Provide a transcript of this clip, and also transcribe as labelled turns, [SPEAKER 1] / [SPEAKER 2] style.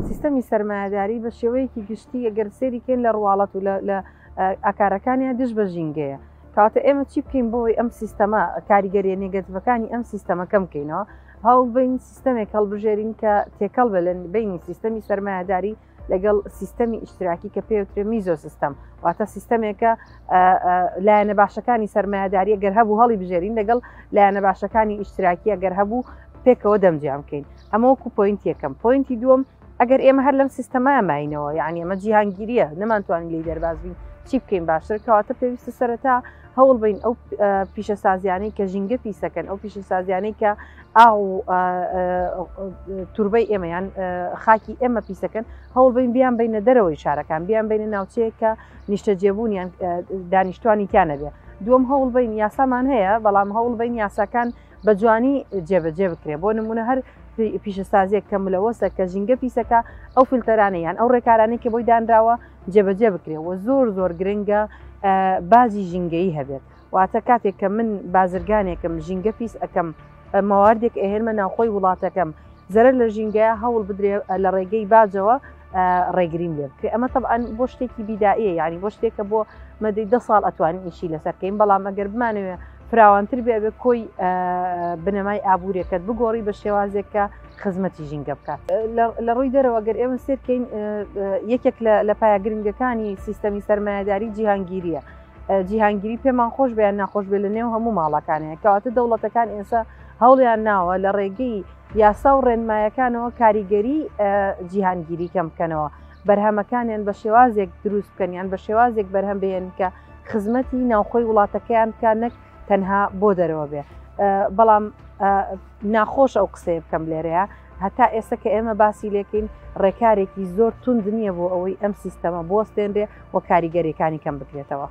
[SPEAKER 1] سیستەمی سەرمایەداری بە شێوەیەکی گشتی ئەگەر سێری کێن لە ڕواڵەت و لە ئاکارەکانیان دژ بە ژینگەیە کاتە ئێمە چی بکەین بۆی ئەم سیستەما کاریگەریە نێگەتیڤەکانی ئەم سیستەمە کەم بکەینەوە هەوڵ بین سیستەمێک هەڵبژێرین کە تێکەڵ بە لە بینی سیستەمی سەرمایهداری لەگەڵ سیستەمی ئیشتراکی کە پێوترێ میزۆ سیستەم واتە سیستەمێکە لایەنە باشەکانی سرمایهداریە گەر هەبوو هەڵی بژێرین لەگەڵ لایەنە باشەکانی ئیشتراکیە گەر هەبوو پێکەوە دەمجیان بکەین ئەمەوەکو پوینت یەکەم پوینتی دووەم ئەگەر ئێمە هەر لەم سیستەمای ماینەوە یعنی ئەمە جیهانگیریە نەمانتوانین لی دەربازبین چی بکەین باشتر کەواتە پێویستە سەرەتا هەوڵ بین ئەو پیشەسازیانەی کە ژینگە پیسەکەن ئەو پیشەسازیانەی کە ئاو و توربەی ئێمە یان خاکی ئێمە پیسەکەن هەوڵ بین بیان بینە دەرەوەی شارەکان بیان بینە ناوچەیە کە نیشتەجێبوون یان دانیشتوانی تیانەبێ دوم هەوڵ بین یاسامان هەیە بەڵام هەوڵ بین یاساکان بە جوانی جێبەجێ بکرێ بۆ نمونە هەر پیشەسازیێک کە ملەوەسە کە ژینگە پیسەکە ئەو فلتەرانە یان ئەو ڕێکارانی کە بۆی دانراوە جێبەجێ بکرێ و زۆر زۆر گرنگە باجی ژینگەی هەبێت واتە کاتێک کە من بازرگانێکم ژینگە پیس ئەەکەم مەواردێک ئەهێنمە ناوخۆی وڵاتەکەم زەرەر لە ژینگەیە هەوڵ بدرێ لە ڕێگەی باجەوە ڕێگریم لێ بکرێ ئەمە طبعاً بۆ شتێکی بیداییە یعنی بۆ شتێکە بۆ مەدەی ده ساڵ ئەتوانین ئیشی لەسەرکەین بەڵام ئەگەر بمانەوێ فراوانتر بێ بێ کۆی بنەمای ئابوورێکەت بگۆڕی بە شێوازێک کە خزمەتی ژینگە بکات لە ڕووی دەرەوە گەر ئێمە سێرکەین یەکێک لە پایە گرنگەکانی سیستەمی سەرمایهداری جیهانگیریە جیهانگیری پێمان خۆش بیان ناخۆش بێ لە نێو هەموو ماڵەکانەیە کەواتە دەوڵەتەکان ئێستا هەوڵیان ناوە لە ڕێگەی یاسا و ڕێنمایەکانەوە کاریگەری جیهانگیری کەم بکەنەوە بەرهەمەکانیان بە شێوازێک دروست بکەنیان بە شێوازێک بەرهەم بێن کە خزمەتی ناوخۆی وڵاتەکەیان بکە نەک تەنها بۆ دەرەوە بێ بەڵام ناخۆش ئەو قسەیە بکەم لێرەیە هەتا ئێستا کە ئێمە باسی لێکەین ڕێکارێکی زۆر تونند نییە بۆ ئەوەی ئەم سیستەمە بۆستێنرێ و کاریگەریەکانی کەم بکرێتەوە.